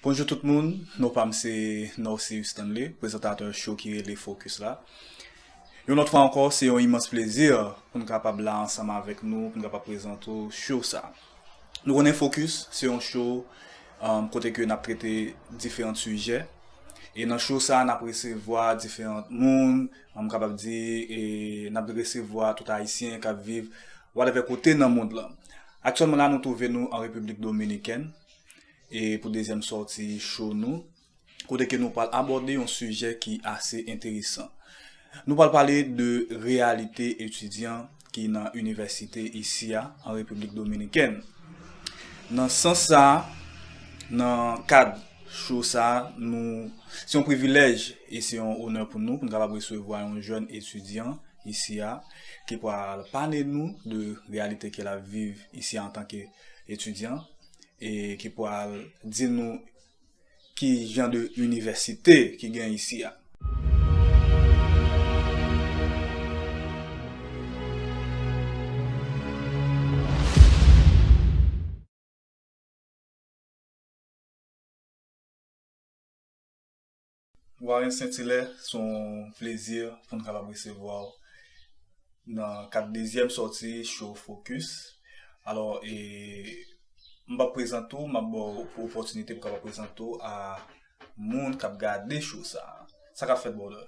Bonjou tout moun, non pa m se Norcéus Stanley, prezantatè show ki rele Focus la. Yon lòt fwa ankò, se yon imans plezi pou n kapab la ansanm avèk nou pou n kapab prezante w show sa. Nou konnen Focus se yon show kote ke n ap trete diferant sijè e nan show sa n ap resevwa diferant moun, m kapab di n ap resevwa tout Ayisyen k ap viv whatever kote nan mond lan. Aktyèlman la nou twouve nou an Repiblik Dominikèn. E pou dezyèm sòti show nou, kote ke nou pral abòde yon sijè ki ase enteresan. Nou pral pale de reyalite etidyan ki nan inivèsite isi a, an Repiblik Dominikèn. Nan sans sa, nan kad show sa, nou, se yon privilèj e se yon onè pou nou, pou nou kapab resevwa yon jèn etidyan isi a, ki pral pale nou de reyalite ke lap viv isi a antanke etidyan. e ki pwal di nou ki jan de inivèsite ki gen isi a. Warren Saint-Hilaire, se yon plezi pou n kapab resevwa w nan kad dezyèm sòti Show Focus. Alò, m pap prezante w, m ap ba w opòtinite pou w kapab prezante w a moun k ap gade show sa a. Sa k ap fèt, brother?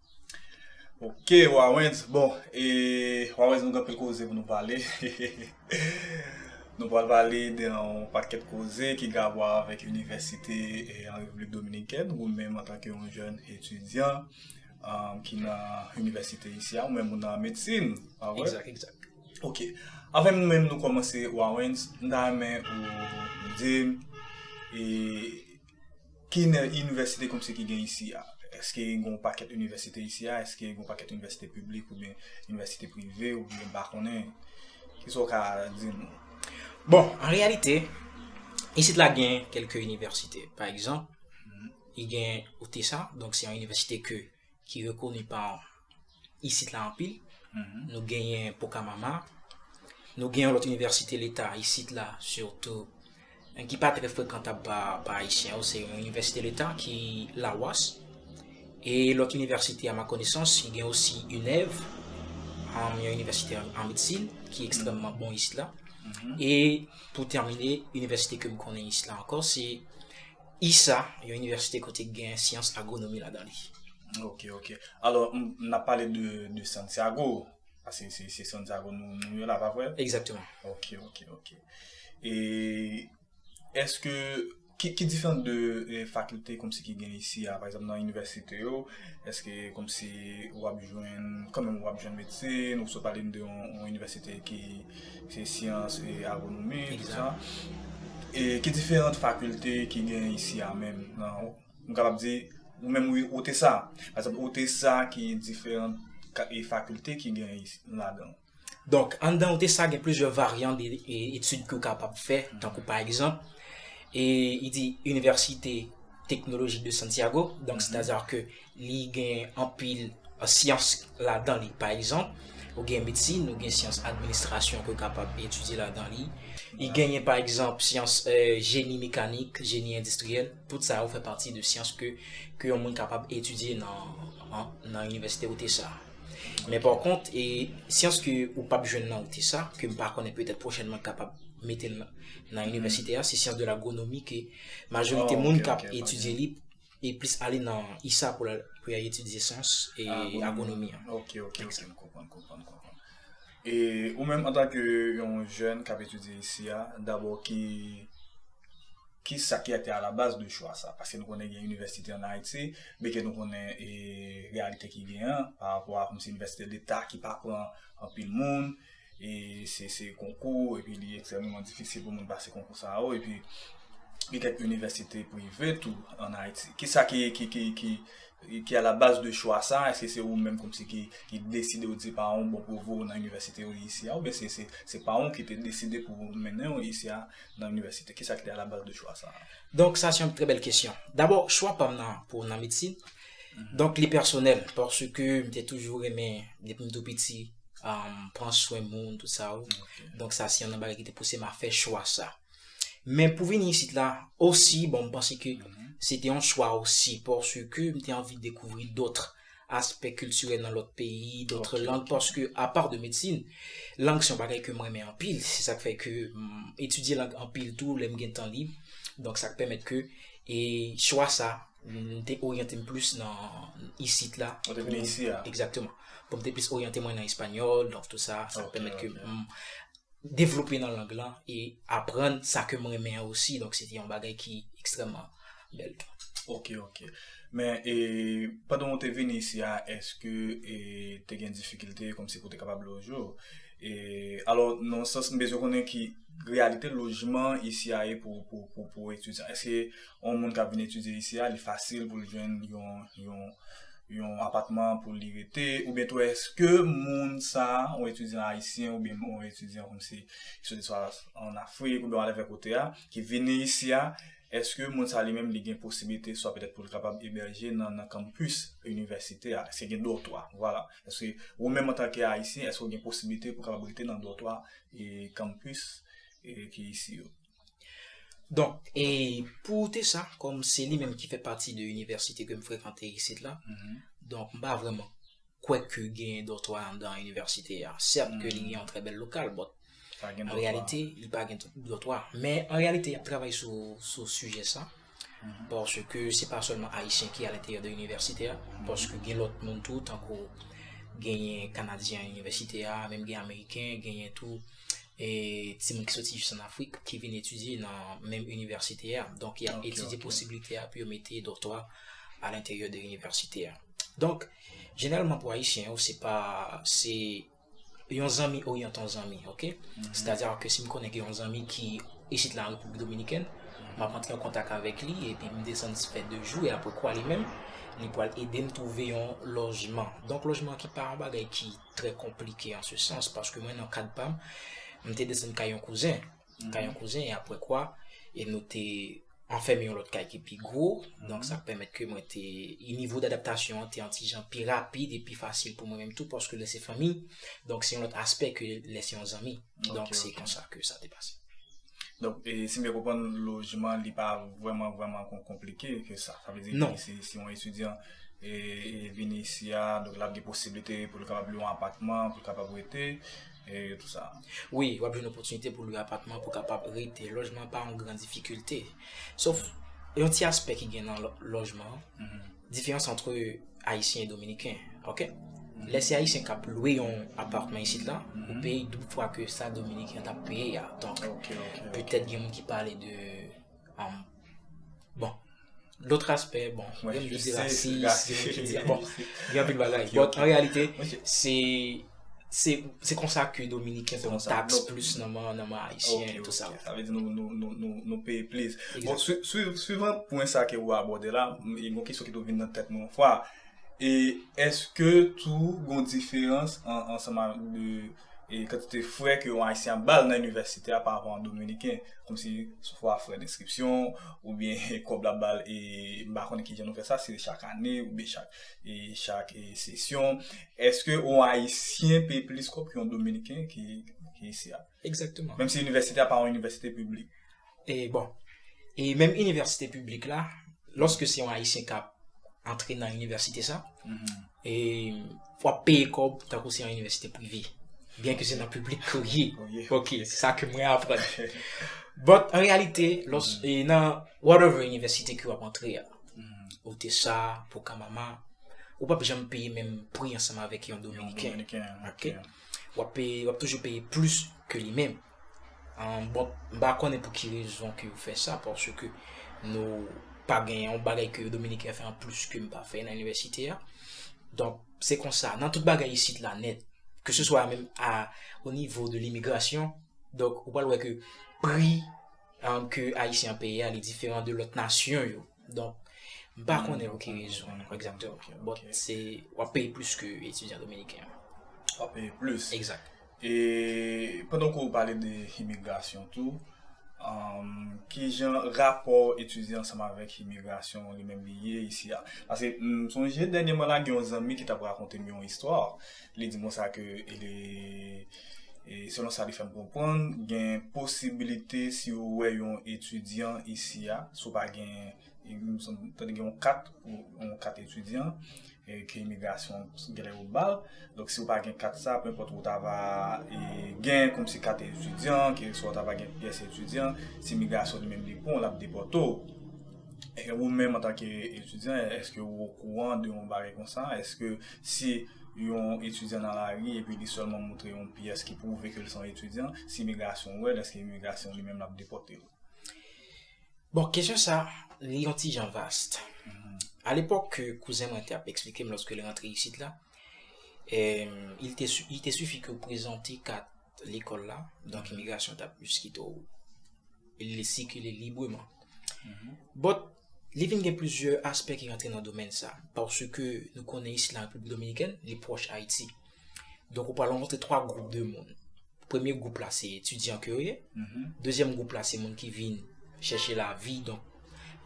Ok Wawens bon e Wawens nou gen anpil koze pou nou pale Nou pral pale de yon pakèt koze ki gen avwa avèk inivèsite an Repiblik Dominikèn ou menm antanke yon jèn etidyan ki nan inivèsite isi a ou menm ou nan medsin pa vre? Egzak, egzak Ok Avèm nou menm nou kòmanse Wawens m ta renmen ou di m e ki nan inivèsite kòm se ki gen isi a? Eske gen yon pakèt inivèsite isi a? Eske gen yon pakèt inivèsite piblik oubyen inivèsite prive oubyen m pa konnen? Ki sa w ka di nou? Bon, an reyalite, isit la gen kèlke inivèsite. Pa egzanp, li gen UTESA, donk se yon inivèsite ke ki rekoni pa isit la anpil, nou genyen Pokamama, nou gen yon lòt inivèsite leta isit la sitou, men ki pa trè frekantab pa Ayisyen yo, se yon inivèsite leta ki Lawas, e lòt inivèsite a ma konesans, ki gen osi UNEV, yon inivèsite an medsin, ki ekstrèmman bon isit la, e pou tèmine, inivèsite ke m konnen isit la ankò, se. ISA, yon inivèsite kote gen syans agwonomi ladan li. Ok, ok. Alò, n ap pale de Santiago, paske se Santiago nou ye la, pa vre? Egzakteman. Ok, ok, ok. E, èske, ki diferan de fakilte kòmsi ki gen isi a, pa egzanp nan inivèsite yo, èske kòmsi w ap jwenn, kòmsi w ap jwenn medsin, ou sot pale m de yon inivèsite ki. Se syans e agronomi tout sa. E ki diferant fakilte ki gen isi a menm nan nou kapab di ou menm ou te sa. Pa egzanp ou te sa ki diferant e fakilte ki gen ladan. Donk anndan ou te sa gen plizyè varyan de etid ke ou kapab fè tankou pa egzanp e li di Université Technologique de Santiago donk sètadi ke Li gen anpil syans ladan li. Pa egzanp, ou gen medsin, ou gen syans administrasyon ke w kapab etidye ladan li. Li genyen pa egzanp syans jeni mekanik, jeni endistriyèl. Tout sa yo fè pati de syans ke ke yon moun kapab etidye nan inivèsite Utesa. Men pa kont, syans ke ou pap jwenn nan Utesa, ke m pa konnen petèt pwochènman kapab mete l nan inivèsite a, se syans de lagronomi ke majorite moun kap etidye li. e plis ale nan ISA pou y al etidye syans e agronomi an. Ok, ok, ok, m konprann, konprann, konprann. E ou menm antanke yon jèn k ap etidye isi a, dabò ki, ki sa ki te alabaz de chwa sa? Paske nou konnen gen inivèsite an Ayiti, byen ke nou konnen e reyalite ki gen an, pa rapò a kòmsi inivèsite leta ki pa pran anpil moun, e se se konkou epi li ekstrèmeman difisil pou moun pase konkou sa yo epi gen kèk inivèsite prive tou an Ayiti ki sa ki ki ki ki ki a la baz de chwa sa èske se ou menm kòmsi ki ki deside ou di paran ou bon pou voye ou nan inivèsite ou ye isi a oubyen se se se paran ou ki te deside pou mennen ou isi a nan inivèsite ki sa ki te a la baz de chwa sa a? Donk sa se yon trè bèl kesyon dabò chwa pam nan pou nan medsin donk li pèsonèl paske m te toujou renmen depi m tou piti. pran swen moun, tout sa ou. Donk sa se yon nan bagay ki te pouse m a fè chwa sa. Men pou vini isit la, osi, bon m panse ke se te yon chwa osi pòsè ke m te anvi dekouvri dòtre aspè kiltirèl nan lòt peyi, dòtre lang, paske apa de medsin, lang se yon bagay ke m renmen anpil, se sa k fè ke m etidye lang anpil tou lè m gen tan lib. Donk sa k pèmèt ke e chwa sa m te oryante m plis nan isit la. Ou te vini isi a. Egzakteman. Bon m te plis oryante mwen nan espanyòl, donk tout sa, sa pèmèt ke m devlope nan lang lan e aprann sa ke m renmen an osi, donk se te yon bagay ki ekstrèmman bèl tou. Ok, ok. Men, e pandan ou te vini isi a, èske e te gen difikilte kòmsi pou w te kapab loje w? E alò, nan yon sans m bezwen konnen ki reyalite lojman isi a ye pou etidyan? Èske yon moun kap vin etidye isi a li fasil poul jwenn yon yon yon apatman pou li rete oubyen tou eske moun sa yon etidyan ayisyen oubyen yon etidyan kòm si ki soti swa an afrik oubyen walèvè kote a ki vini isi a eske moun sa li menm li gen posiblite swa petèt poul kapab ebèje nan nan kanmpis inivèsite a eske gen dòtwa vwala eske ou menm antanke ayisyen eske ou gen posiblite pou kapab rete nan dòtwa e kanmpis e ki isi yo. Donk, e pou ou te sa, kòm se li menm ki fè pati de inivèsite ke m frekante isit la, donk m pa vrèman kwè ke gen dòtwa anndan inivèsite a. Sèt ke li gen yon trè bèl lokal, bòt an reyalite li pa gen dòtwa. Men an reyalite y ap travay sou sijè sa. Paske se pa sèlman Ayisyen ki alenteryè de inivèsite a, paske gen lòt moun tou, tankou genyen Kanadyen an inivèsite a, menm gen Ameriken, genyen tou e timoun ki soti jis an Afrik ki vin etidye nan menm inivèsite a. Donk, y ap etidye posibilite a pou yo mete dòtwa alenteryè de inivèsite a. Donk, jeneralman pou Ayisyen yo, se pa, se. Yon zanmi oryante yon zanmi ok sètadi a ke si m konnen gen yon zanmi ki isit la an Repiblik Dominikèn m ap antre an kontak avèk li epi m desann fè de jou e apre kwa li menm li pral ede m twouve yon lojman donk lojman ki pa yon bagay ki trè konplike an se sans paske mwen nan kad pa m m te desann kay yon kouzen. nan kay yon kouzen e apre kwa e nou te anfème yon lòt kay ki pi gwo, donk sa pèmèt ke mwen te, e nivo d'adaptasyon an te yon ti jan pi rapid e pi fasil pou mwen menm tou paske lè se fanmi, donk se yon lòt aspè ke lè se yon zanmi, donk se konsa ke sa te pase. Donk e si m byen konprann lojman li pa vrèman vrèman konplike ke sa, sa vle di ke si yon etidyan e vini isi a donk l ap gen posiblite pou l kapab lwe yon apatman pou l kapab rete, Wi, w ap jwenn opòtinite pou lwe apatman pou kapab rete. Lojman pa yon gran difikilte. Sof, yon ti aspè ki gen nan lojman, diferans antre Ayisyen e Dominiken. Ok? Lè se Ayisyen k ap lwe yon apatman isit la, ou peye doub fwa ke sa Dominiken t ap peye a. Donk, petèt gen moun ki pale de, bon. Lotre aspè, bon, mwen menm yo di rasis, mwen menm yo di, bon, gen anpil bagay. Bon, an reyalite, se, se, se konsa ke Dominiken pran tax plis nan man, nan man Ayisyen, etou sa. Sa vle di nou, nou, nou, nou, nou peye plis. Bon, suivant pwen sa ke ou abòde la, e bon kesyon ki toujou vin nan tèt mwen yon fwa, e, eske tou gon diferans an, ansanm avèk de. e kantite frè ke yon Ayisyen ap bal nan inivèsite a pa rapò a yon Dominiken, kòmsi swa frè denskripsyon, oubyen kòb lap bal e m pa konnen kijan nou fè sa, si se chak ane oubyen chak e chak e sesyon, èske yon Ayisyen peye plis kòb ke yon Dominiken ki ki isi a? Egzakteman. Menmsi inivèsite a pa yon inivèsite piblik. E bon, e menm inivèsite piblik la, lòske se yon Ayisyen k ap antre nan inivèsite sa, e w ap peye kòb tankou se yon inivèsite prive. Byenke se nan piblik ke w ye. Ok, se sa ke mwen aprann. But, an reyalite, lòs, e nan whatever inivèsite ke w ap antre a, Utesa, Pucamama, ou p ap janm peye menm pri ansanm avèk yon Dominiken. Yon Dominiken, ok. W ap peye, w ap toujou peye plis ke li menm. Bon, m pa konnen pou ki rezon ke yo fè sa, pòsè ke nou pa gen yon bagay ke yo Dominiken fè an plis ke m pa fè nan inivèsite a. Donk, se konsa, nan tout bagay isit la nèt, ke se swa menm a o nivo de limigrasyon, donk, ou pral wè ke pri an ke Ayisyen an peye a li diferan de lòt nasyon yo. Donk, m pa konnen pou ki rezon an, egzatèman. Bon, se, w ap peye plis ke etidyan Dominiken an. Ou ap peye plis. Egzat. E pandan ke w pale de imigrasyon tou, ki jan rapò etidyan ansanm avèk imigrasyon li menm li ye isi a? Paske m sonje dènyèman la gen yon zanmi ki t ap rakonte m yon istwa, li di m konsa ke selon sa li fè m konprann gen posibilite si ou wè yon etidyan isi a, si w pa gen Mtande gen yon kat, yon kat etidyan ke imigrasyon genlè yo bal. Donk si ou pa gen kat sa, penpòt ou ta va gen kòmsi kat etidyan, ke swa ou ta va gen pyès etidyan, si imigrasyon li menm li pran w, l ap depòte w. E ou menm antanke etidyan, èske ou okouran de yon bagay konsa? Èske si yon etidyan nan lari epi li sèlman montre yon pyès ki pwouve ke l se yon etidyan, si imigrasyon wè l, èske imigrasyon li menm l ap depòte l? Bon, kesyon sa, li yon ti jan vast. A lepòk ke kouzen mwen te ap eksplike m lòske li rantre isit la, il te si, il te sifi ke ou prezante kat lekòl la, donk imigrasyon ta plis kite w li sikile libreman. Bòt, li vin gen plizyè aspè ki rantre nan domèn sa, paske nou konnen isit la Repiblik Dominikèn, li pwòch Ayiti. Donk ou pral rankontre 3 gwoup de moun. Premye gwoup la se etidyan ke yo ye. Mhm. Dezyèm gwoup la se moun ki vin chèche la vi. Donk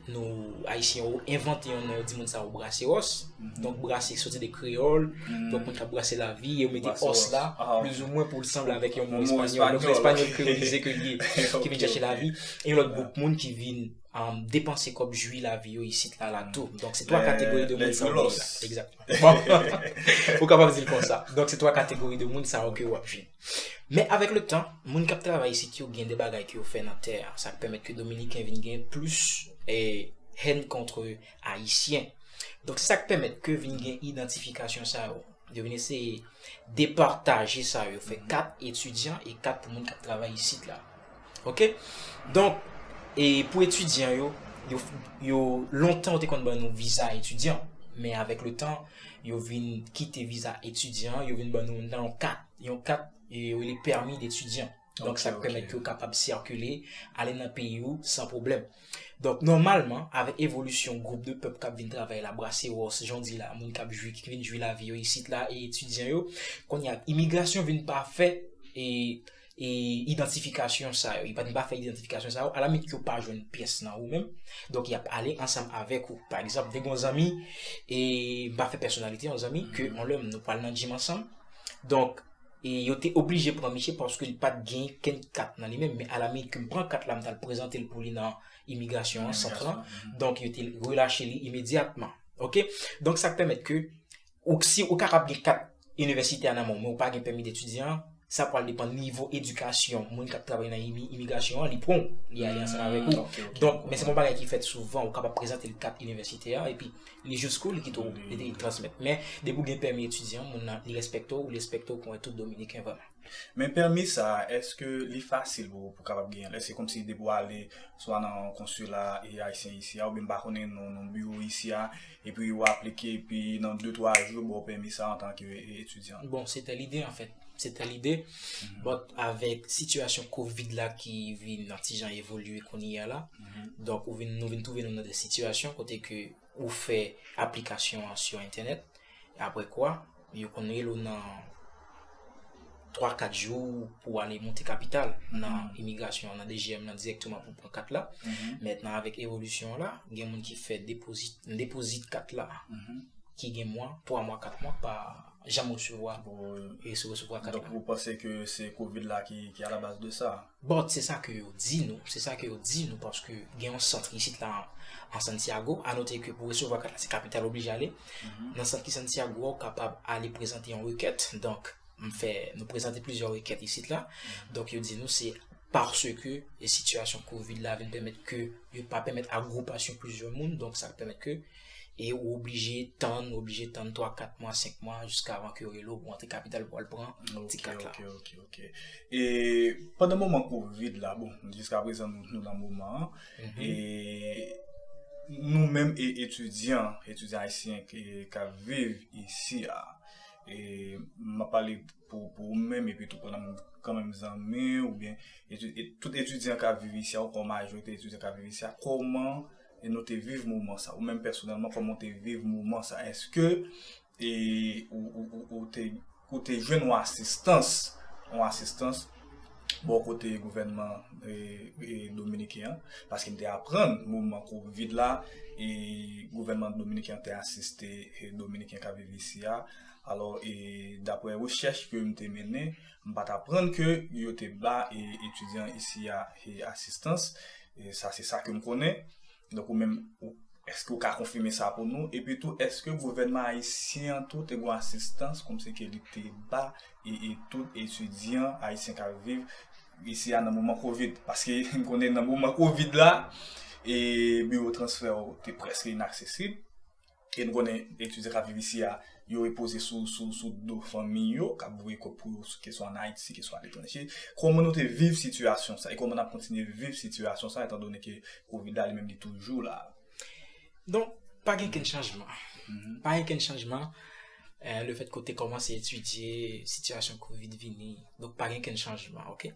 nou ayisyen yo envante yon nou di moun sa yo braseros. Mhm. Donk brase soti de kreyol. Mhm. Donk moun ka brase la vi. Yo mete os la. Ah, Plis ou mwen pou l sanble avèk yon moun espanyol. Yon moun espanyol kreyolize ke li. Ki vin chèche la vi. E yon lòt gwoup moun ki vin. Depanse kòb jwi la vi yo isit la la tou. Donk se 3 kategori de moun sa yo. Lè koulos. Exact. Ou kapab di l konsa. Donk se twa kategori de moun sa yo ke w ap jwenn. Men avèk le tan, moun k ap travay isit yo gen de bagay ke yo fè nan tè a, sa k pèmèt ke Dominiken vin gen plis hèn kontre Ayisyen. Donk se sa k pèmèt ke vin gen idantifikasyon sa yo. Yo vin eseye depataje sa yo. Fè kat etidyan e kat pou moun k ap travay isit la. Ok donk e pou etidyan yo yo lontan yo te konn ban nou viza etidyan men avèk le tan yo vin kite viza etidyan yo vin ban nou nan yon kat yon kat e yo rele pèmi detidyan donk sa pèmèt ke ou kapab sikile ale nan peyi ou san pwoblèm donk nòmalman avèk evolisyon gwoup de pèp kap vin travay la brasewòs jan w di la moun kap jwi ki vin jwi lavi yo isit la e etidyan yo kounye a imigrasyon vin pa fè e e idantifikasyon sa yo, yo pa di m pa fè idantifikasyon sa yo, alamit yo pa jwenn pyès nan ou menm, donk y ap ale ansanm avèk ou. Pa egzanp, te gen yon zanmi, e m pa fè pèsonalite, yon zanmi ke yon lè nou pral nan djim ansanm, donk, e yo te oblije pran misye paske li pa t gen kenn kat nan li menm, men alamit ke m pran kat la m t al prezante l pou li nan imigrasyon an, sant lan, donk yo te relache li imedyatman. Ok, donk sa k pèmèt ke. Ou k si ou kapab gen kat inivèsitè a nan men w men ou pa gen pèmi detidyan an, sa pral depan nivo edikasyon moun k ap travay nan imigrasyon an li pran w, li ale ansanm avèk ou. Donk, men se pa yon bagay ki fèt souvan, ou kapab prezante l kat inivèsitè a epi li jis kou li kite w li te transmèt. Men, depi ou gen pèmi etidyan, moun nan li respekte w, li respekte w kòm tout Dominiken vrèman. Men pèmi sa a, èske li fasil pou ou kapab genyen l? Èske se kòmsi depi w ale swa nan konsila e Ayisyen isi a oubyen m pa konnen nan biwo isi a, Epi ou aplike epi nan de twa jou yo ba w pèmi sa antanke etidyan. Bon, se te lide anfèt. Se te lide. Bòt avèk sitiyasyon kovid la ki vin nan ti jan evolye kounye a la, donk ou vin nou vin twouve nou nan de sitiyasyon kote ke ou fè aplikasyon an sou entènèt, aprè kwa Yo konn rele w nan 3, 4 jou pou w ale monte kapital nan imigrasyon an, nan DGM nan dirèkteman pou w pran kat la. Mètnan avèk evolisyon la, gen moun ki fè depozit, m depozit kat la ki gen mwa, 3 mwa, 4 mwa pa janm resevwa, resevwa kat la. Donk ou panse ke se kovid la ki alabaz de sa? But se sa ke yo di nou, se sa ke yo di nou paske gen yon centre isit la an Santiago, a note ke pou resevwa kat la se kapital ou oblije ale, nan centre ki Santiago a ou kapab ale prezante yon rekèt, donk m fè, nou prezante plizyè rekèt isit la, donk yo di nou se paske sitiyasyon covid la vin pèmèt ke yo pa pèmèt agwopasyon plizyè moun, donk sa pèmèt ke e ou oblije tann, oblije tann 3, 4 mwa, 5 mwa jiskavan ke yo rele w pou antre kapital pou al pran ti kat la. Ok, ok, ok, ok. E pandan moman kovid la, bon, jiskaprezan nou nan moman an, e nou menm e etidyan, etidyan ayisyen ki ap viv isi a, e m ap pale pou ou menm epi tou pou nan kanmenm zanmi ou byen, tout etidyan k ap viv isi a ou kon majorite etidyan k ap viv isi a, kòman e nou te viv moman sa ou menm pèsonèlman kòman ou te viv moman sa eske e ou te jwenn yon asistans yon asistans bò kote gouvènman dominiken an paske m te aprann moman covid la e gouvènman dominiken an te asiste dominiken k ap viv isi a alò e daprè rechèch ke m te mennen M pa t aprann ke yo te ba etidyan isi a asistans. Sa se sa ke m konnen. Donk ou menm, èske ou ka konfime sa pou nou? Epi tou, èske gouvènman ayisyen an tou te gen yon asistans kòmsi ke li te ba tout etidyan ayisyen k ap viv isi a nan moman kovid? Paske m konnen nan moman kovid la, biwo transfè yo te prèske inaksesib. E nou konnen etidyan k ap viv isi a, yo repoze sou do fanmi yo, k ap voye kòb pou yo keswa ann Ayiti, keswa aletranje. Kòman nou te viv sitiyasyon sa e kòman n ap kontinye viv sitiyasyon sa etan done ke covid la li menm li toujou la? Don, pa gen okenn chanjman. Pa gen okenn chanjman lefètke ou te kòmanse etidye, sitiyasyon covid vini. Donk pa gen okenn chanjman, oke.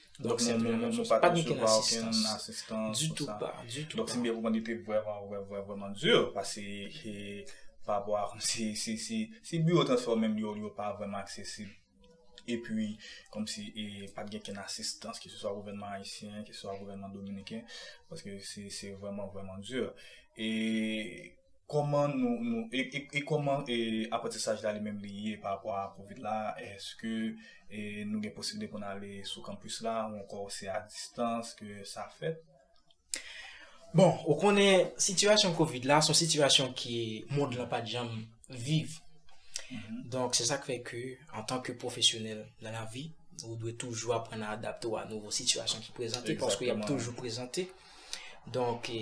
Donk se mwen menm, pa gen okenn asistans ditou pa, ditou pa. Donk se byen pou mwen li te vrèman, vrèman, vrèman dur pase ke pa rapò a kòm si, si, si, si biwo transpò menm yo, yo pa vrèman aksesib epi kòm si e pa t gen okenn asistans ke se swa gouvènman ayisyen, ke se swa gouvènman dominiken paske se, se vrèman, vrèman dur e. Koman nou, nou, e, e, e koman e aprantisaj la li menm li ye pa rapò a kovid la, eske e nou gen posiblite pou n ale sou kanpis la ou ankò se a distans ke sa fèt? Bon, ou konnen sitiyasyon kovid la son sitiyasyon ke mond lan pat janm viv. Donk se sa k fè ke antan ke pwofesyonèl nan lavi, ou dwe toujou aprann a adapte w a nouvo sitiyasyon ki prezante paske y ap toujou prezante. Donk e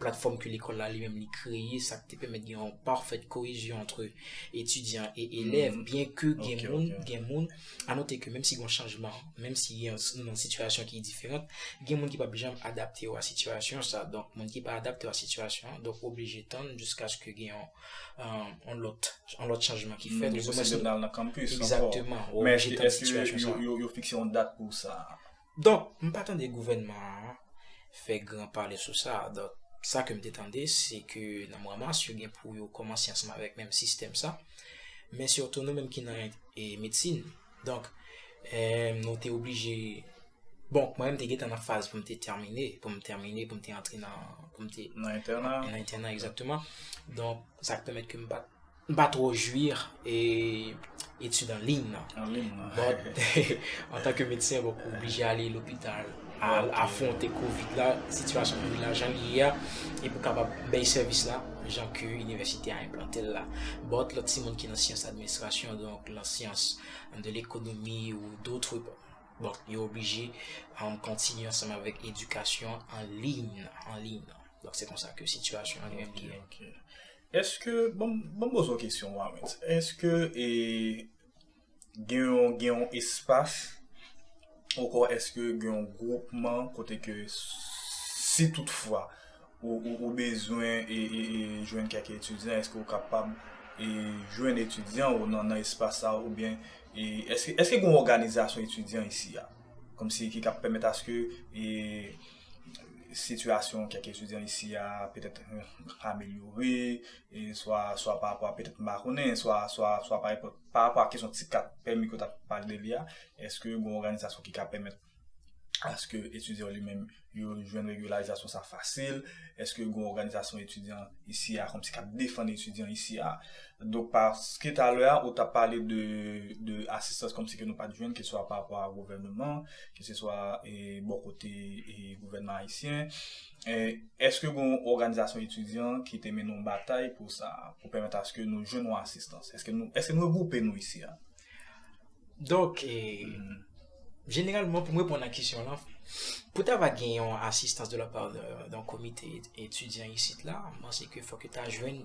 Platfòm ke lekòl la li menm li kreye sa k te pèmèt gen yon parfaite cohésion entre etidyan e elèv byen ke gen moun gen moun a note ke menm si gen yon chanjman menm si gen nou nan sitiyasyon ki diferant gen moun ki p ap janm adapte yo a sitiyasyon sa donk moun ki pa adapte yo a sitiyasyon an donk oblije tann jiskaske gen yon yon lòt yon lòt chanjman ki fèt ou di mwen se Yo pral nan campus ankò egzakteman ou oblije tann sitiyasyon sa Men èske yo fikse yon dat pou sa a? Donk, m pa tande gouvènman an fè gran pale sou sa. Donk, sa ke m te tande, se ke nan mwa mas, yo gen pou yo kòmanse ansanm avèk menm sistèm sa. Men sitou nou menm ki nan medsin. Donk, nou te oblije, bon, mwen menm te gen tan nan faz pou m te tèmine, pou m tèmine, pou m te antre nan, pou m te. Nan entèna. Nan entèna, egzakteman. Donk, sa k pèmèt ke m pa t. M pa twò jwir etid an liy nan. But, antanke medsen, bon, ou oblije ale lopital, al afwonte Covid la, sitiyasyon Covid la jan li ye a, e pou kapab bay sèvis la jan ke inivèsite a enplante l la. But, lòt timoun ki nan syans administrasyon, donk nan syans de lekonomi ou dotre, bon, yo oblije kontinye ansanm avèk edikasyon an liy nan, an liy nan. Donk se konsa ke sitiyasyon an li menm ki ye. Eske, banm banm poze w kesyon Warens, eske e gen yon gen yon espas onkò eske gen yon gwoupman kote ke si tout fwa ou ou bezwen e e e jwenn kèk etidyan eske ou kapab e jwenn etidyan ou nan nan espas sa oubyen e eske eske gen yon òganizasyon etidyan isi a kòmsi ki kap pèmèt aske e sitiyasyon kèk etidyan isi a petèt amelyore, swa parapò a petèt m pa konnen, swa parapò a kesyon ti kat pèmi ke w t ap pale de li a, èske gen yon òganizasyon ki ka pèmèt aske etidyan yo li menm yo jwenn regilazasyon sa fasil, èske gen yon òganizasyon etidyan isi a kòmsi k ap defann etidyan isi a. Donk paske talè a ou tap pale de de asistans kòmsi ke nou pat jwenn ke swa pa rapò a gouvèneman, ke se swa e bò kote e gouvènman ayisyen, e èske gon òganizasyon etidyan ki te mennen yon batay pou sa a, pou pèmèt aske nou jwenn yon asistans? Èske nou èske nou regwoupe nou isi a? Donk e jeneralman pou m reponn a kesyon lan, pou ta va gen yon asistans de la pa de yon komite etidyan isit la, m panse ke fòk yo ta jwenn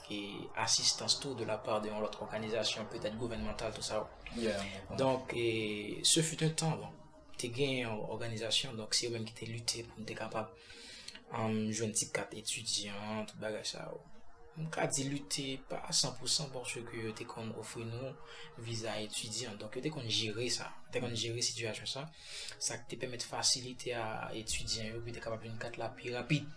e asistans tou de la part de yon lòt òganizasyon petèt gouvènmantal tou sa yo. Donk e se fut un tan bon te gen yon òganizasyon donk se yo menm ki te lite pou nou te kapab um, jwenn ti kat etidyan, tout bagay sa yo. M ka di lite pa a 100 pou 100 pòske yo te konn ofri nou viza etidyan donk yo te konn jere sa, te konn jere sitiyasyon sa. sa ki te pèmèt fasilite a etidyan yo pou yo te kapab jwenn kat la pi rapid.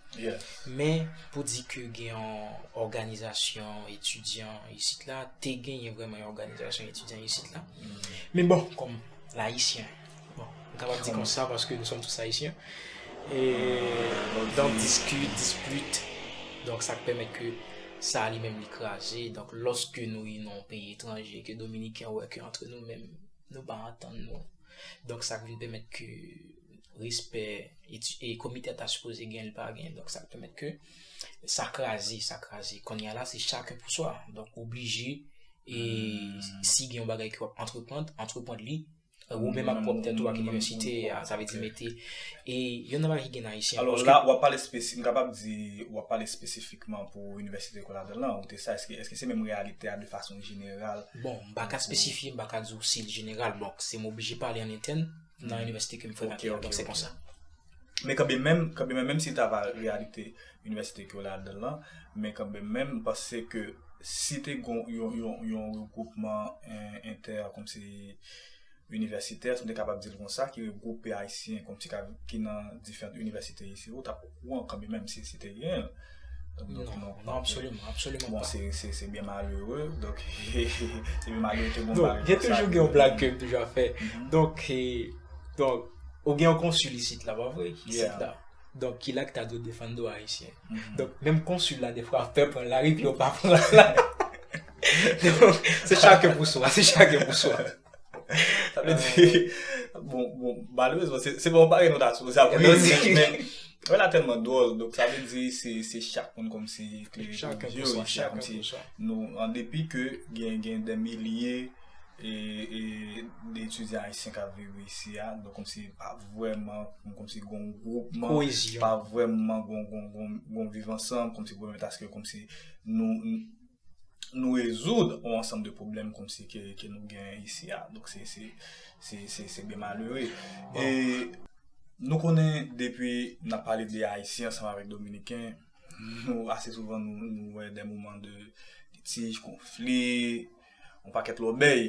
Men, pou di ke gen yon òganizasyon etidyan isit la, te genyen vreman yon òganizasyon etidyan isit la. Men bon, kòm ayisyen, bon, m kapab di konsa paske nou sòm tous ayisyen, e, donk diskit, dispit, donk sa k pèmèt ke sa li menm li kraze, donk lòske nou rive nan yon peyi etranje, ke Dominiken wè ke antre nou menm, nou pa antann nou. Donk sa k vin pèmèt ke respè e komite a ta sipoze gen li pa gen. Donk sa k pèmèt ke sa kraze, sa kraze. Kounye a la se chaken pou swa. Donk ou oblije e si gen yon bagay ke w ap antreprand, antreprand li ou menm ak pwòp tèt ou ak inivèsite a. Sa vle di mete e yon nan bagay ki gen nan Ayisyen. Alò la w ap pale, m kapab di w ap pale espesifik. Espesifikman pou Inivèsite Koladan lan, ou te sa, èske se menm reyalite a de fason jeneral? Bon, m pa ka espesifye, m pa ka di w si l jeneral. Bon, se m oblije pale an entèn nan inivèsite ke m frekante a, donk se konsa. Men kanben menm, kanben menm, menm si l ta va reyalite inivèsite ke w ladan lan, men kanben menm, m panse ke si te gon yon regwoupman entè, kòmsi, universitaires, m te kapab di l konsa, ki regwoupe Ayisyen kòmsi ka ki nan diferant inivèsite isi, ou t ap okouran kanmimèm si si te genyen l. Non, absoliman, absoliman pa. Bon, se, se byen malere, donk, se byen malere ke bon bagay konsa. Gen toujou gen yon blag ke m toujou ap fè. Donk, donk, ou gen yon konsil isit la, pa vre? Isit la. Donk, ki la ki ta dwe defann dwa Ayisyen? Donk, menm konsil la defwa ap pè pran lari pou yo pa pran l la. Se chake pou swa, se chake pou swa. Sa vle di, bon, bon, malerezman, se bon bagay nou ta sipoze ap ri, men, bagay la tèlman dwòl, donk sa vle di se chak moun kòmsi klere sou je yo, chak moun se sa. Nou, an depi ke gen, gen dè milye e, e, de etidyan ayisyen k ap viv isi a, donk kòmsi pa vrèman, kòmsi gen yon gwoupman. Koyezyon. Pa vrèman gen yon, gen yon, gen yon viv ansanm, kòmsi pou pèmèt aske kòmsi nou. nou rezoud yon ansanm de pwoblèm kòm si ke nou genyen isi a. Donk se, se, se, se, se byen malere. E nou konnen depi n ap pale de Ayisyen ansanm avèk Dominiken, nou ase souvan nou wè de moman de litij, konfli, yon pakèt lòbèy.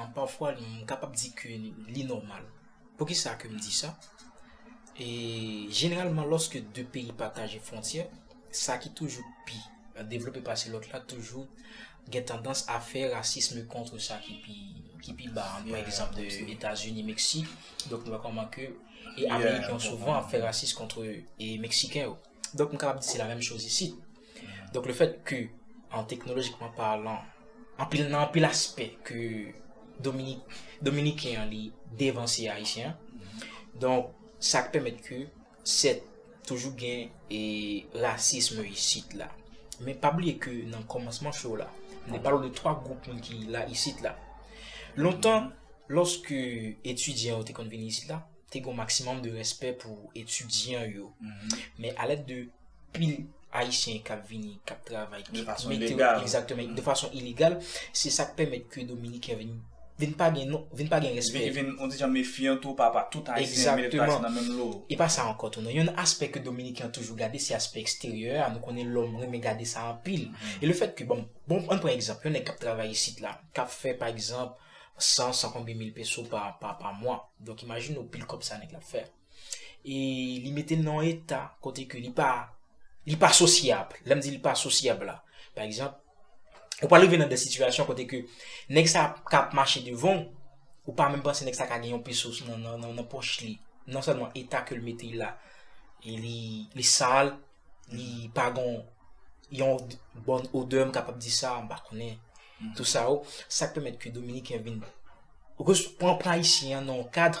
An pafwa m kapab di ke li nòmal. Poukisa ke m di sa? E jeneralman lòske 2 peyi pataje fwontyè, sa ki toujou pi devlope pase lòt la toujou gen tandans a fè rasism kontre sa ki pi ki pi ba an. Pran egzanp de Etazini, Meksik, donk nou wè kòman ke e Ameriken yo souvan ap fè rasis kontre e Meksiken yo. Donk m kapab di se la menm choz isit. Donk le fèt ke an teknolojikman palan, anpil nan anpil aspè ke Dominik, Dominiken an li devanse Ayisyen an. Donk sa k pèmèt ke sèt toujou gen e rasism isit la. Men pa bliye ke nan kòmansman show la, m te pale w de 3 gwoup moun ki la isit la. Lontan, lòske etidyan yo te konn vini isit la, te gon maksimòm de respè pou etidyan yo. Men alèd de pil Ayisyen kap vini, kap travay, ki mete yo egzaktemen, de fason ilegal, se sa k pèmèt ke Dominiken vin vin pa gen non, vin pa gen respè. Vin vin, on di jan mefyan tou pa pa tout Ayisyen mete tout Ayisyen nan menm lo. E pa sa ankò tou non. Yon aspè ke Dominiken an toujou gade se aspè eksteryè a, nou konnen lòm renmen gade sa anpil. E le fèt ke, bon, bon, an pran egzanp, yon nèg kap travay isit la, kap fè pa egzanp, 100, san konbyen mil peso pa mwa. Donk imajine w pil kòb sa nèg la ap fè. E li mete n nan yon eta kote ke li pa, li pa sosyab. Lè m di li pa sosyab la, pa egzanp, ou pral rive nan de sitiyasyon kote ke nèg sa ka ap mache devan w, ou pa menm panse nèg sa ka gen yon peso nan pòch li. Non sèlman eta ke l mete l la, li sal, li pa gon yon bòn odè, m kapab di sa, m pa konnen. Nan tout sa yo, sa k pèmèt ke Dominiken vin pran pran Ayisyen an nan yon kadr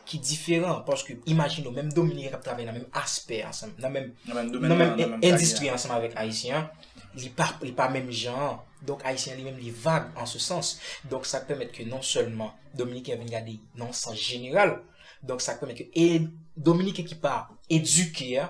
ki diferan. Paske imajine w, menm Dominiken k ap travay nan menm aspè ansanm, nan menm endistri ansanm avèk Ayisyen an, li pa menm jan an. Donk Ayisyen an li menm li vag an se sans. Donk sa k pèmèt ke non sèlman Dominiken vin gade nan yon sans jeneral. Donk sa k pèmèt yo e dominiken ki pa edike a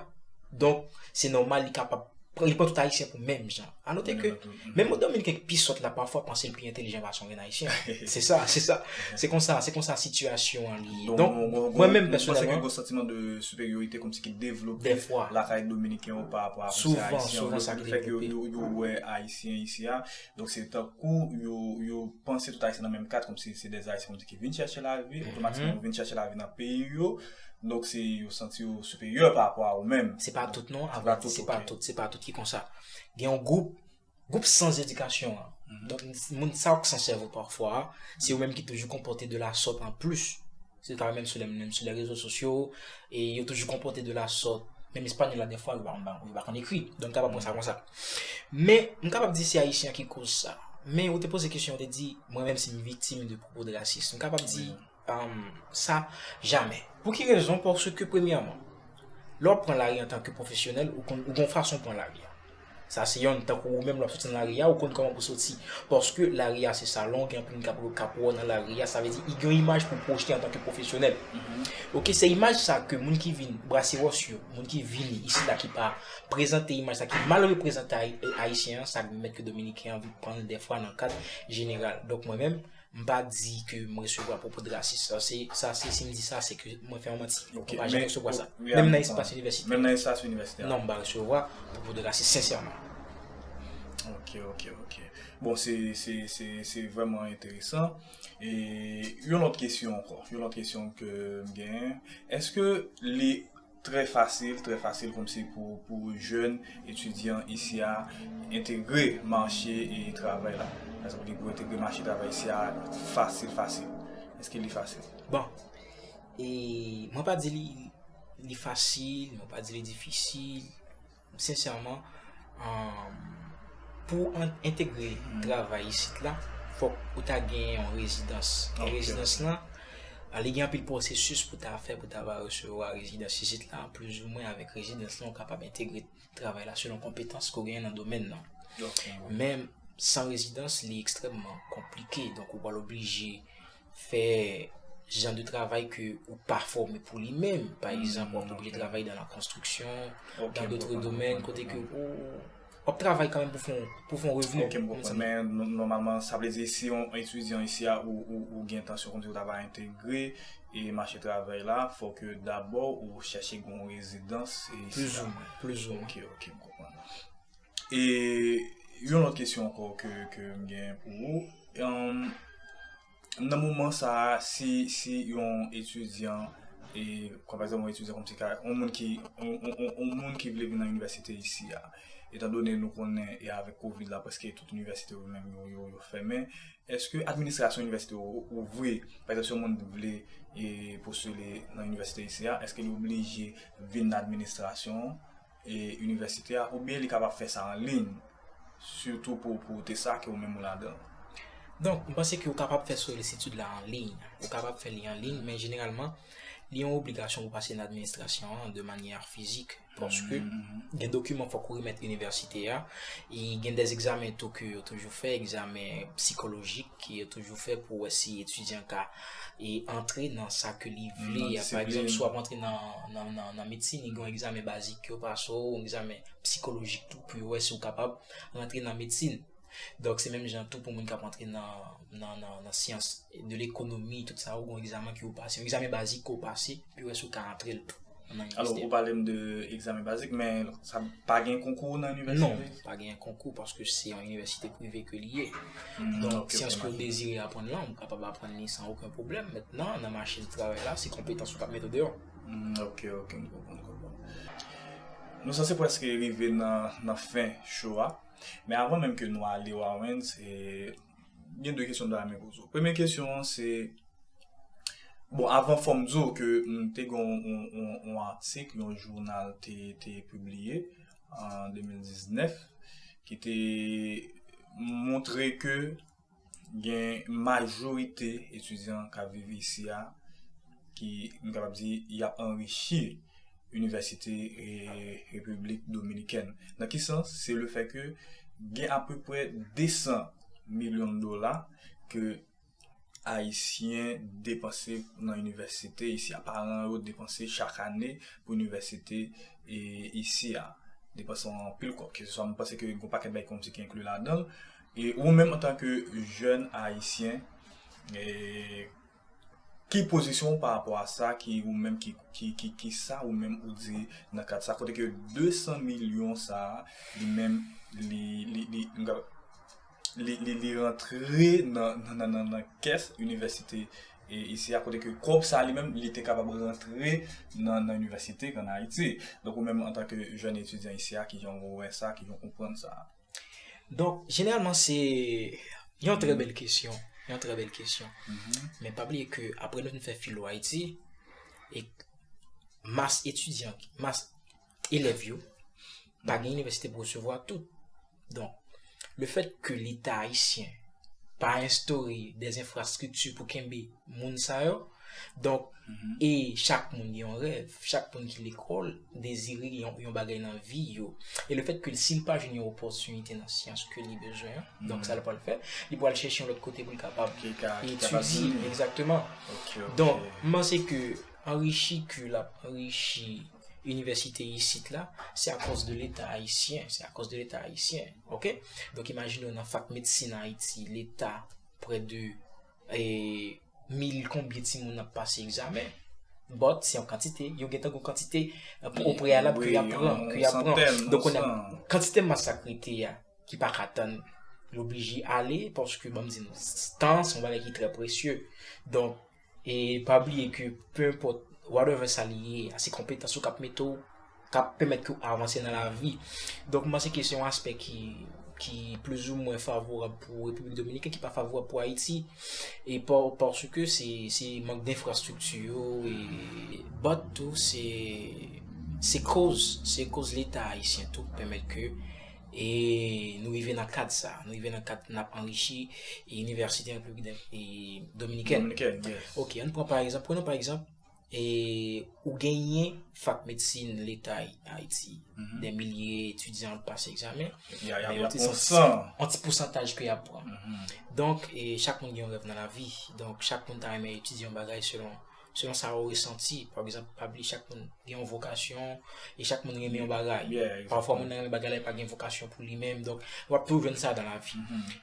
donk se nòmal li kapab li pran tout ayisyen pou menm jan. A note ke menm yon dominiken ki pi sòt la pafwa panse l pi entelijan pase yon grenn ayisyen. Se sa, se sa. Se konsa, se konsa sitiyasyon an li ye. Donk mwen menm pèsonèlman. Ou panse ke gwo santiman de siperyorite kòmsi ki devlope dèfwa lakay dominiken yo parapò a kòmsi ayisyen yo. Souvan, souvan sa ki devlope. Yo wè ayisyen isi a Donk se tankou yo panse tout ayisyen nan menm kat kòm si se dè ayisyen kòm si ki vin chèche lavi, otomatikman yo vin chèche lavi nan peyi yo, donk se yo santi yo siperyè pa rapò a ou menm. Se pa tout non, a vrè di se pa tout, se pa tout ki konsa. Gen yon gwoup, gwoup sans edikasyon an, donk moun sa yo k san sèvo pafwa, se yo menm ki toujou konpòte de la sòt an plis. Se ta menm sou lè menm sou lè rezo sosyo e yo toujou konpote de la sòt. Menm espanyòl la dèfwa yo pa konn yo pa konn ekri. Donk m kapab pran sa konsa. Men, m kapab di se ayisyen an ki koz sa. Men ou te poze kesyon ou te di mwen menm si m viktim de pwopo de rasis. M kapab di sa jamè. Pou ki rezon? Paske premyèman, lè w ap pran lari antanke pwofesyonèl ou gon fason w pran lari a. Sa se yonn tankou ou menm lè wap soti nan lari a ou konn kòman pou soti paske lari a se salon gen anpil moun kap wè w nan lari a sa vle di gen yon imaj pou pwojte antanke pwofesyonèl ok se imaj sa ke moun ki vin brase wòch yo moun ki vini isi la ki pa prezante imaj sa ki mal reprezante ayisyen an sa ki mèt ke dominiken an vin pran l dèfwa nan kad jeneral donk mwen menm M pa di ke m resevwa pwopo drasis sa. Sa se si m di sa se ke mwen fè yon manti. M pa janm resevwa sa. Menm nan espas inivèsitè. Menm nan espas inivèsitè. Non m pa resevwa pwopo drasis sensèman. Ok ok ok. Bon se se se se vrèman enteresan. E yon lòt kesyon ankò. Yon lòt kesyon ke m genyen. Eske li. Trè fasil, trè fasil kòmsi pou jèn etidyan isi a entegre mache travay la. Èske li pou entegre mache travay isi a fasil fasil? Èske li fasil? Bon, mwen pa di li fasil, mwen pa di li difisil. Sincèrement pou entegre travay isit la fok ou ta gen yon rezidans. Yon rezidans la li gen anpil pwosesis pou ta fè pou ta va resevwa rezidans isit la plizoumwen avèk rezidans la ou kapab entegre travay la selon konpetans ke ou genyen nan domèn nan. Men san rezidans li ekstrèmman konplike donk ou pral oblije fè jan de travay ke ou pa fòme pou li menm. Pa egzanp, wap oblije travay dan la konstriksyon, dan dotre domèn, kote ke ou wap travay kan menm pou fon revni. Ok, m konprann. Men, nòmalman, sa vle di si yon etidyan isi a ou gen entansyon kòmsi ou ta va entegre e mache travay la, fò ke dabò ou chèche gen yon rezidans isi a. Plizoumwen, plizoumwen. Ok, ok, m konprann. E yon lòt kesyon ankò ke m gen pou ou, nan moman sa a si yon etidyan, pa egzanp yon etidyan kòmsi ka, yon moun ki, yon moun ki vle vin nan inivèsite isi a, etan done nou konnen e avèk kovid la prèske tout inivèsite yo menm yo fèmen, èske administrasyon inivèsite yo ouvri, pa egzanp si yon moun vle postile nan inivèsite isi a, èske li oblije vin nan administrasyon an? inivèsite a oubyen li kapab fè sa an liy sitou pou ou te sa ke ou menm ou ladan. Donk, m panse ke ou kapab fè solisid la an liy, ou kapab fè li an liy men jeneralman li yon obligasyon pou pase nan administrasyon an de manyè fizik paske gen dokiman fòk ou remèt inivèsite a e gen dè egzamen tou ke yo toujou fè, egzamen psikolojik ke yo toujou fè pou wè si etidyan ka e antre nan sa ke li vle ya. Pa egzanp, si w ap antre nan medsin, li gen yon egzamen bazik yo pase w, yon egzamen psikolojik tou pou yo wè si w kapab rantre nan medsin. Donk, se menm jan tou pou moun k ap antre nan syans, de lekonomi, tout sa yo gen yon egzamen ke yo pase, yon egzamen bazik ke yo pase pou yo wè si yo ka antre l tou. Alò ou pale m de egzamen bazik men sa pa gen konkou nan inivèsite? Non, pa gen konkou paske se yon inivèsite prive ke li ye. Donk si anske ou dezire aprann lan, ou kapab aprann li san oken pwoblèm. Mentnan nan mache di travay la, se konpetans ou k ap mete deyò. Ok, ok, m konprann, m konprann. Nou sanse prèske rive nan fen show a. Men avan menm ke nou ale Wawens, gen de kesyon mta renmen poze w. Premye kesyon an se, bon avan fòm di w ke m te gen yon atik yon jounal te pibliye an 2019 ki te montre ke gen majorite etidyan k ap viv isi a ki m kapab di y ap anrichi Inivèsite Repiblik Dominikèn. Nan ki sans? Se le fè ke gen apeprè 200 milyon dola ke Ayisyen depanse nan inivèsite isi a. Paran yo depanse chak ane pou inivèsite isi a. Depanse an anpil kòb. Ke se swa, m panse ke gen yon pakèt bagay kòmsi ki enkli ladan l. E ou menm antanke jèn Ayisyen, e. Ki pozisyon ou pa rapò a sa ki ou menm ki sa ou menm ou di nan kad sa kote ke 200 milyon sa li menm li rantre nan kès inivèsite isi a kote ke kòb sa li menm li te kapab rantre nan inivèsite an Ayiti. Donk ou menm antanke jèn etidyan isi a ki jan ou wè sa, ki jan ou konprann sa? Donk, jeneralman se yon trè bèl kesyon, yon trè bèl kesyon. Mm-hmm. Men pa bliye ke apre nou fin fè filo Ayiti, e mas etidyan, mas elèv yo, pa gen inivèsite pou resevwa tout. Donk, le fèt ke leta ayisyen pa enstore de enfrastrikti pou kenbe moun sa yo. Donk, e chak moun gen yon rèv. Chak moun ki lekòl dezire yon bagay nan vi yo. E le fèt ke l si l pa jwenn yon opòtinite nan syans ke li bezwen an, donk sa l pral fè, li pral chèche yon lòt kote pou l kapab etidye. Egzakteman. Donk, m panse ke anrichi ke l ap anrichi inivèsite isit la, se akòz de leta ayisyen. Se akòz de leta ayisyen. Ok? Donk imajine w nan fak medsin Ayiti, leta prè de. E mil konbyen ti moun ap pase egzamen? But, se yon kantite. Yo gen tan kou kantite pou o preyalab ki ap pran. Ki ap pran. Don konen, kantite masak rete ya, ki pa ka tann, yo oblije ale, paske banm di nou, tan son bagay ki trè presye. Don, e pa bliye ke, pe enpot, whatever sa li ye, se konpetans ou kap mete ou. kap pèmèt ke w avanse nan lavi. Donk m panse ke se yon aspè ki plis ou mwen favorab pou Repiblik Dominiken, ki pa favorab pou Ayiti, e paske se mank denfrastrikti yo, but tou se koz, se koz leta ayisyen tou ki pèmèt ke nou rive nan kad sa, nou rive nan kad nap anrichi inivèsite Repiblik Dominiken. Ok, an pran pa egzanp, prenn an pa egzanp, E ou genyen fak medsin leta Ayiti, dè milye etidyan ap pase egzamen, men yo te san an ti pousantaj ke y ap pran. Donk, chak moun gen yon rèv nan lavi, donk chak moun ta renmen etidye yon bagay selon sa ou resanti. Pa egzanp, pa bliye chak moun gen yon vokasyon. E chak moun renmen yon bagay. Pafwa moun nan renmen bagay la e pa gen vokasyon pou li menm. Donk, w ap toujou jwenn sa dan la vi.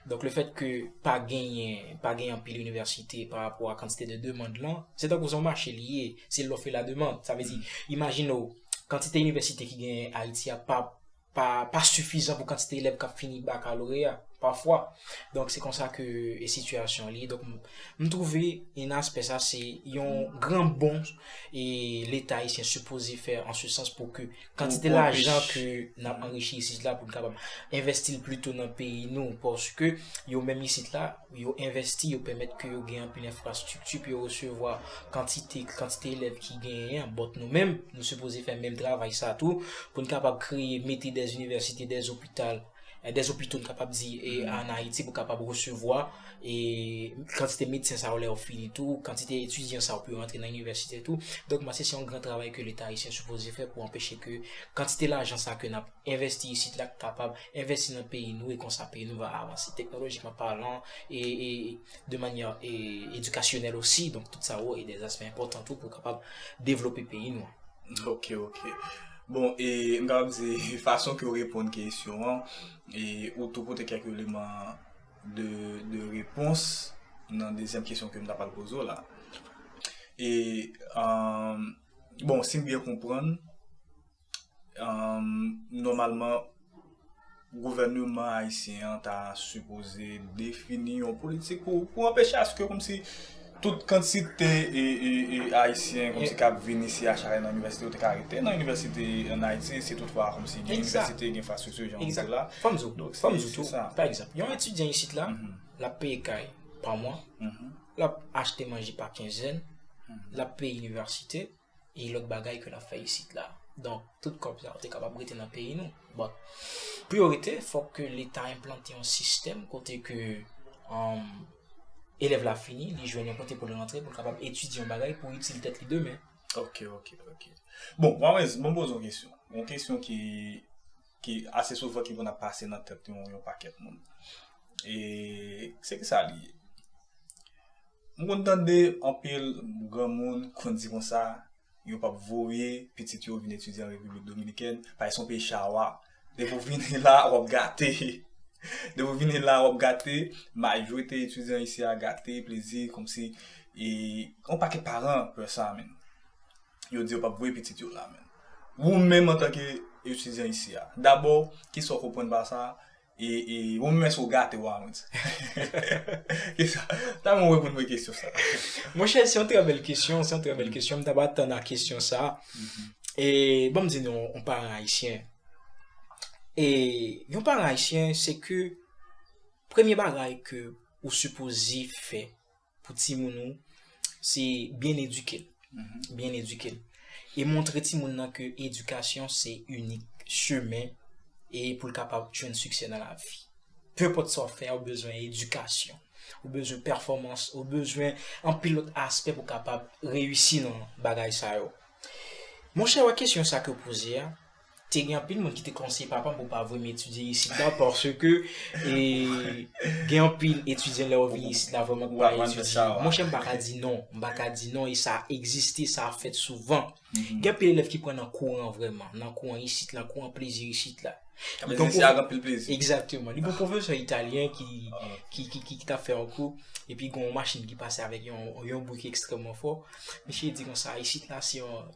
Donk, le fèt ke pa genyen, pa genyen anpil inivèsite pa rapò a kantite de demand lan, se tankou se yon mache li ye. Se lòf e la demand. Sa vle di, imajine w, kantite inivèsite ki genyen Ayiti a pa. pa sifizan pou kantite elèv k ap fini bakaloreya pafwa. Donk se konsa ke sitiyasyon an ye. Donk m twouve nan aspè sa se yon gran bon e leta ayisyen sipoze fè an se sans pou ke kantite lajan ke n ap anrichi isit la pou n kapab envèsti l pito nan peyi nou paske yo menm isit la Pou yo envèsti, yo pèmèt ke yo gen anpil enfrastrikti, pou yo resevwa kantite, kantite elèv ki genyen an. Bòt nou menm, nou sipoze fè menm travay sa tou, pou n kapab kreye, mete dè inivèsite, dè zopital, dè zopito n kapab di e an Ayiti pou kapab resevwa e kantite medsen sa yo lè yo fini tou, kantite etidyan sa yo pou yo rantre nan inivèsite tou. Donk mwen se se yon gran travay ke leta ayisyen sipoze fè pou anpeche ke kantite lajan sa ke n ap. Envesti isit la k kapab envesti nan peyi nou e konsa peyi nou va avanse teknolojikman palan e de manyè edikasyonèl osi donk tout sa yo e de aspè enpòtan tou pou kapab devlope peyi nou an. Ok ok bon e m kapab di fason ke w reponn kesyon an e ou tou pote kèk eleman de de repons nan dezyèm kesyon ke m ta pral poze w la e bon si m byen konprann Nòmalman, gouvèneman ayisyen an ta sipoze defini yon politik pou anpeche aske kòmsi tout kantite ayisyen kòmsi kap vin isi a chale nan inivèsite yo te ka rete nan inivèsite an Ayiti si tout fwa kòmsi gen inivèsite, gen enfrastrikti jan ou di la. Fò m di w, fò m di w tou, pa egzanp, yon etidyan isit la, l ap peye kay pa mwa, l ap achte manje pa kenzèn, l ap peye inivèsite, e lòt bagay ke nap fè isit la. Donk, tout kòb sa yo te kapab rete nan peyi nou. But, pou yo rete, fòk ke leta enplante yon sistèm kote ke elèv la fini, li jwenn yon kote pou li rantre, pou li kapab etidye yon bagay pou itil tèt li demen. Ok, ok, ok. Bon, Wawèz, mwen poze yon kesyon. Yon kesyon ki. ki ase souvan ki konn ap pase nan tèt yon pakèt moun. E se ki sa li ye? M konn tande anpil granmoun konn di konsa, yo p ap voye pitit yo vin etidye an Repiblik Dominikèn, paske se yon peyi chawa. Depi w vini la, w ap gate. Depi w vini la, w ap gate. Majorite etidyan isi a gate plezi kòmsi. E yon pakèt paran pè sa menm. yo di yo pap voye pitit yo la menm. Wou menm antanke etidyan isi a, dabò ki sa w konprann pa sa a? E wou menm èske w gate w a mwen di? Ki sa? Ta renmen w reponn mwen kesyon sa a. Monchè se yon trè bèl kesyon, se yon trè bèl kesyon. M ta pa atann a kesyon sa a. E ban m di nou yon paran ayisyen. E yon paran ayisyen se ke premye bagay ke ou sipoze fè, pou ti moun ou, se byen edike l. Byen edike l. E montre ti moun nan ke edikasyon se inik chemen e pou l kapab jwenn siksè nan lavi. Pe enpòt sa w ap fè a, ou bezwen edikasyon. Ou bezwen pèfòmans, ou bezwen anpil lòt aspè pou kapab reyisi nan bagay sa yo. Monchè, wè kesyon sa ke w poze a, te gen anpil moun ki te konseye papa m pou pa vre m etidye isit la, paske e, gen anpil etidyan lè yo vini isit la vre m pa etidye. Mwen chè m pa ka di non, m pa ka di non e sa egziste, sa fèt souvan. Mm-hmm. Gen anpil elèv ki pran nan kouran vreman, nan kouran isit la, kouran plezi isit la. Kame zin si agan pil plezi. Ekzakteman. Li pou profesyon italyen ki, ki, ki, ki, ki ta fè an kou, epi gen yon machin ki pase avèk yon, yon bouke ekstrèman fò. Misye di kon sa, isit la se yon,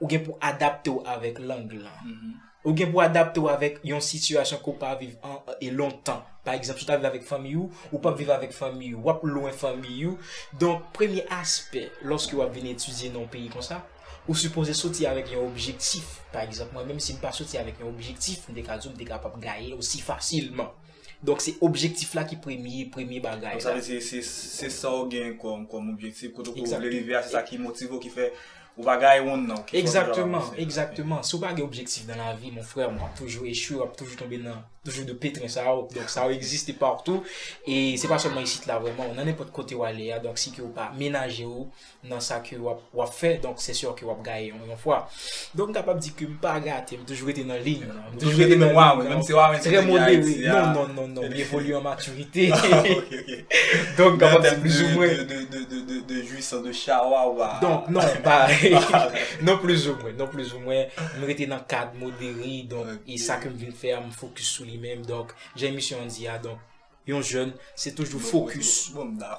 Ou gen pou adapte w avèk lang lan. Ou gen pou adapte w avèk yon sitiyasyon ke w pa viv e lontan. Pa egzanp, si w ta viv avèk fanmiy ou, ou p ap viv avèk fanmiy ou. W ap lwen fanmiy ou. Donk, premye aspè, lòske w ap vin etidye nan yon peyi konsa, ou sipoze soti avèk yon objektif. Pa egzanp, mwen menm si m pa soti avèk yon objektif, m te ka di w m te kapab gaye osi fasilman. Donk se objektif la ki premye, premye bagay la. Donk sa vle di se, se sa ou gen kòm, kòm objektif, kote ke ou vle rive a, se sa ki motive ou, ki fè ou pa gaye wonn nan, ou ki fè ou toujou ap avanse. Egzakteman, egzakteman. Si ou pa gen objektif nan lavi, mon frè, ou ap toujou echwe, ou ap toujou tonbe nan, toujou de petrin sa yo. Donk sa yo egziste partou, e se pa sèlman isit la vrèman, nan nenpòt kote ou ale a, donk si ke ou pa menaje ou, nan sa ke wap wap fè donk se sure ke wap gaye yon yon fwa donk m kapab di ke m pa gate m toujou rete nan liy mwen m toujou rete nan liy mwen trè modere non non non non m evolye an matirite donk kapab di plis ou mwen de jouissance de chawa ou a donk non m pa non plis ou mwen non plis ou mwen m rete nan kad modere donk e sa ke m vin fè a m fokis sou li menm donk jan emisyon an di a donk Yon jèn se toujou fokis,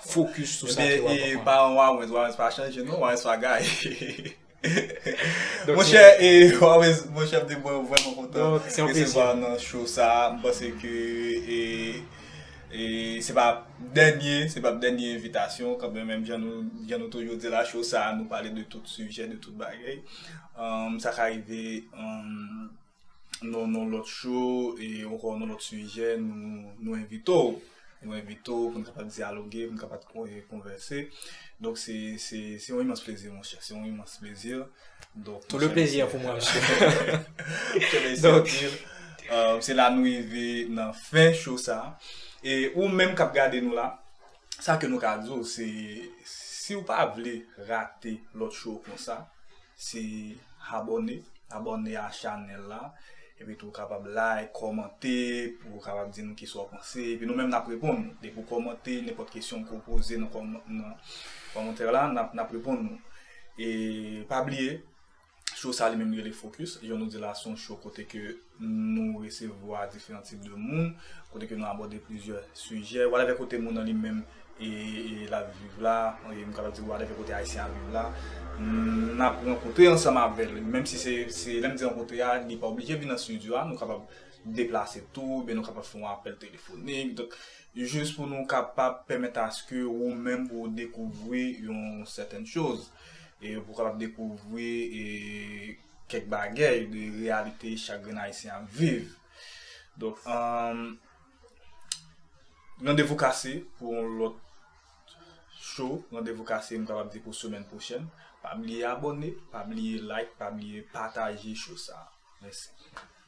fokis sou sa ke wap aprann. Ebyen e paran Wawens, Wawens pa chanje non, Wawens pa gaye. Monchè e Wawens, monchè mte mwen vrèman kontan resevwa w nan show sa, m panse ke e e se pa dènye, se pap dènye envitasyon w kanmenm, menm jan nou, jan nou toujou di la show sa nou pale de tout sijè, de tout bagay, sa ka rive. nan yon lòt cho e ankò nan lòt sijè nou envite w. Nou envite w pou n kapab dyaloge, pou n kapab konvèse. Donk se yon imans plezi monchè, se yon imans plezi. Tout le plezi an pou mwen monchè. Donk se la nou rive nan fen cho sa. E ou menm k ap gade nou la, sa ke nou ka di w se si w pa vle rate lòt cho konsa, Se abòne, abòne a chanèl la. Epi tou ou kapab like, kòmante pou ou kapab di nou kisa ou panse. Epi nou menm nap reponn ou. Depi ou kòmante, nenpòt kesyon ke ou poze nan kòmantè la, nap reponn ou. E pa bliye, show sa li menm li rele Focus. Jan nou di la se yon show kote ke Nou resevwa diferan tip de moun, kote ke nou abòde plizyè sijè. Whatever kote moun nan li menm e l ap viv la, m kapab di whatever kote Ayisyen ap viv la, n ap rankontre ansanm avè l. Menm si se, lè m di rankontre a, li pa oblije vin nan stidyo a, nou kapab deplase tou, oubyen nou kapab fè yon apèl telefonik. Donk, jis pou nou kapab pèmèt aske ou menm pou ou dekouvri yon sèten choz. E pou w kapab dekouvri e. kèk bagèy de reyalite chak grenn ayisyen ap viv. Donk, randevou kase pou yon lòt show, randevou kase m kapab di pou semèn pwochèn. Pa bliye abòne, pa bliye like, pa bliye pataje show sa. Mèsi.